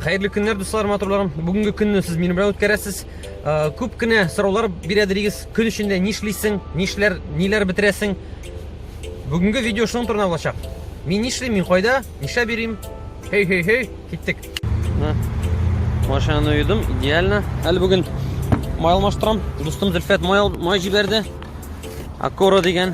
Хәерле көннәр, дуслар, матурларым. Бүгенге көнне сез минем белән үткәрәсез. Э, күп кенә сораулар бирә дирегез. Көн эчендә нишлисең, нишләр, ниләр бетерәсең? Бүгенге видео шуның турында булачак. Мин нишлим, мин кайда, нишләп йөрим? Хей, хей, хей, киттек. Машинаны юдым, идеально. Әле бүген май алмаштырам. Дустым Зөлфәт май, май җибәрде. Акора дигән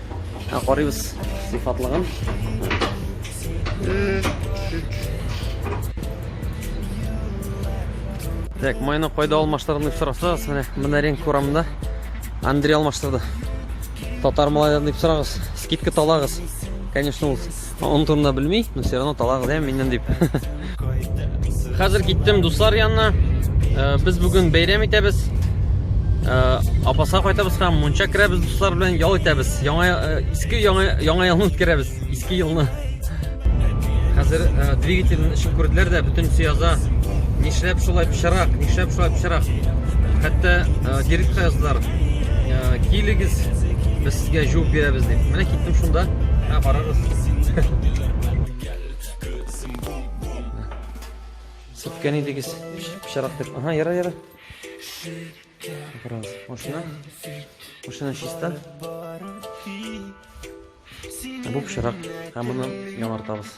Ә карыйбыз сыйфатлыгын. Так, майны кайда алмаштырдың дип сорасагыз, менә менә ринг урамында Андрей алмаштырды. Татар молодец дип сорагыз, скидка талагыз. Конечно, ул Оның турында белми, но все равно талак дә миннән дип. Хәзер киттем дуслар янына. Э, без бүген бәйрәм итәбез. Э, Апаса кайтабыз һәм мунча керәбез дуслар белән ял итәбез. Яңа э, иске яңа яңа елны үткәрәбез. Иске елны. Хәзер двигательне эшен күрделәр дә бөтен сөяза. Нишләп шулай пычарак, нишләп шулай пычарак. Хәтта директор яздылар. Килегез, Сезгә җуып бирәбез дип. Менә киттем шунда. Ә карагыз. Сүткән идегез. Пычарак дип. Ага, яра, яра. Карагыз. Машина. Машина чиста. Бу пычарак. Һәм моны яңартабыз.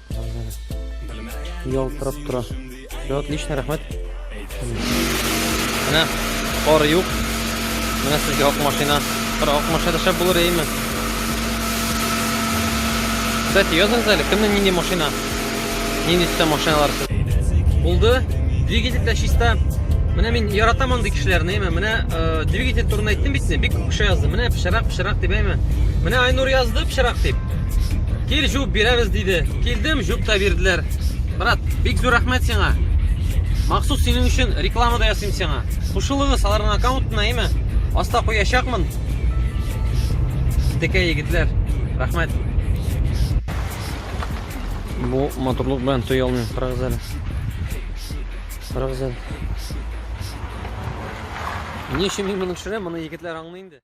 Ялтырап тора. Все отлично, рәхмәт. Менә кар юк. Менә сезгә ак машина. Бер ак машина шәп булыр әйме? Кстати, языңыз әле, кемнең нинди машина? Нинди төстә машиналар? Булды. Двигатель дә чиста. Менә мин яратам андый кешеләрне, әйме? Менә э, двигатель турында әйттем бит, бик күп кеше язды. Менә пешерак, пешерак дип әйме? Менә Айнур язды пешерак дип. Кил җуп бирәбез диде. Килдем, җуп та бирделәр. Брат, бик зур рәхмәт сиңа. Махсус синең өчен реклама да ясыйм сиңа. Кушылыгыз аларның аккаунтына, әйме? Аста куячакмын. Текә егетләр, рәхмәт. Бу матурлык белән туй алмыйм. Карагыз әле. Карагыз әле. Ни өчен мин моны төшерәм? Моны егетләр аңлый инде.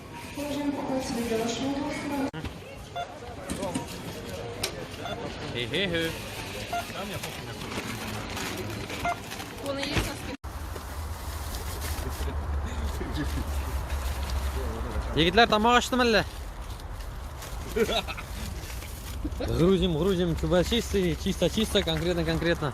Хе-хе-хе. Егетләр тамак ачтымы әллә? Грузим, грузим, чисто, чисто, конкретно, конкретно.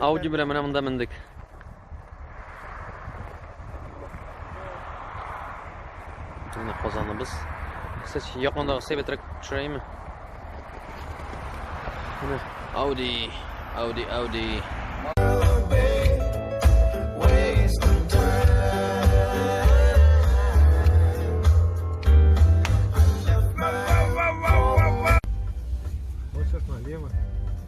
Ауди белән менә монда мендек. Менә казаныбыз. Сез якындагы Севетрак төшерәйме? Менә Ауди, Ауди, Ауди.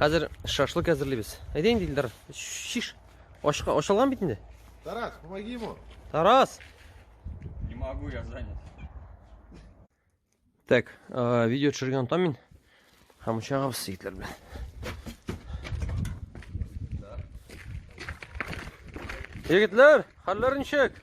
Хәзер шашлык әзерлибез. Әйдә инде Илдар, шиш. Ашка ашалган бит инде. Тарас, помоги ему. Тарас. Не могу, я занят. Так, э, видео төшергән онтам мин. Һәм очагыбыз ситләр белән. Егетләр, хәлләр ничек?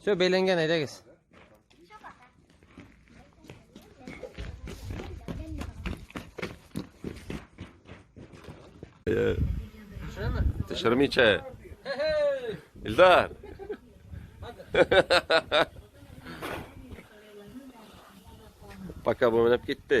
Все, бәйләнгән, әйдәгез. Төшермичә. Илдар. Пока бу менеп китте.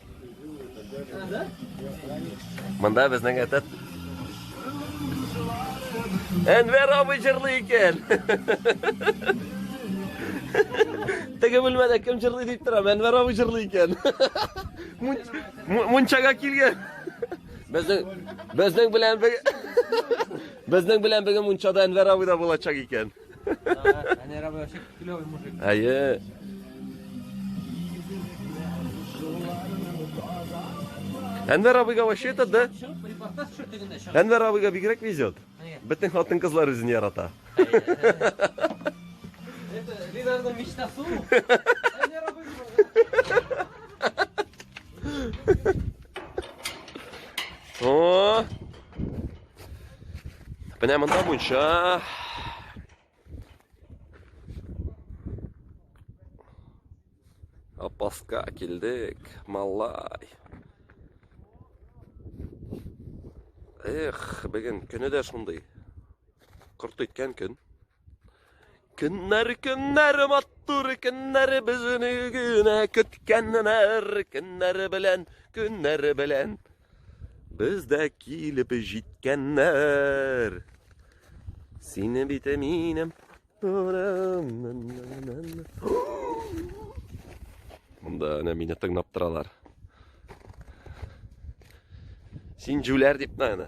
Монда безнең әтәт Әнвәр абый җырлый икән. Теге бүлмәдә кем җырлый дип торам, Әнвәр абый җырлый икән. Мунчага килгән. Безнең безнең белән бер безнең белән бер мунчада Әнвәр абый да булачак икән. Әйе. Әнвәр абыйга вообще это, да? Әнвәр абыйга бигрәк везет. Бөтен хатын кызлар үзен ярата. Это Линарның мечтасы. Әнвәр абый. О! Менә монда мунча. Апаска килдек, малай. Эх, бүген көне дә шундый. Корт иткән көн. Көннәр, көннәр, матур көннәр безне генә көткәннәр, көннәр белән, көннәр белән. Без дә килеп җиткәннәр. Сине бит минем Монда әнә мине тыңлап торалар. Син җүләр дип мәгънә.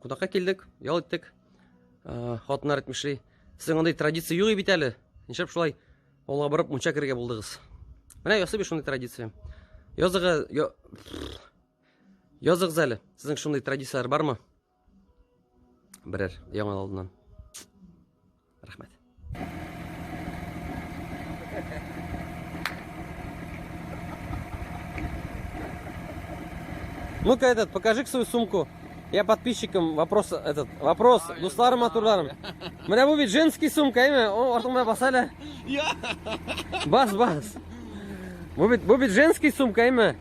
Кудакка килдек, ял иттек. Э, хатыннар әйтмешли, сезнең андый традиция юк бит әле. Нишләп шулай авылга барып мунча керергә булдыгыз? Менә ясый бит шундый традиция. Языгы я... Языгыз әле. Сезнең шундый традицияләр бармы? Берәр яңа алдыннан. Рәхмәт. Ну-ка этот, покажи свою сумку. Я подписчикам вопрос этот вопрос. А, Дусларым матурларым. Менә бу бит женский сумка, әйме? О, артыңда бас әле. Бас, бас. Бу бит бу бит женский сумка, әйме?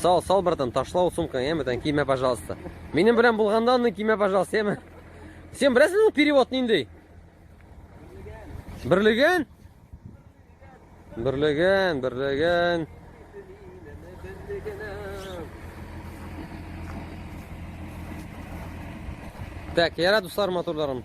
Сал, сал, братан, ташла ул сумканы, яме, тән киме, пожалуйста. Минем белән булганда аны киме, пожалуйста, яме. Сен беләсең ул перевод ниндей? Берлеген? Берлеген, берлеген. Так, ярат дуслар моторларым.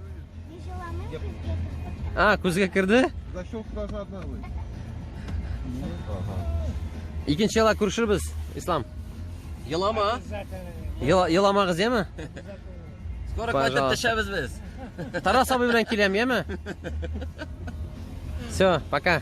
А, күзгә керде? Защелка же одна вы. Икенче яла күрешербез, Ислам. Елама. Еламагыз, яме? Скоро кайтып төшәбез без. Тарас абый белән киләм, яме? Все, пока.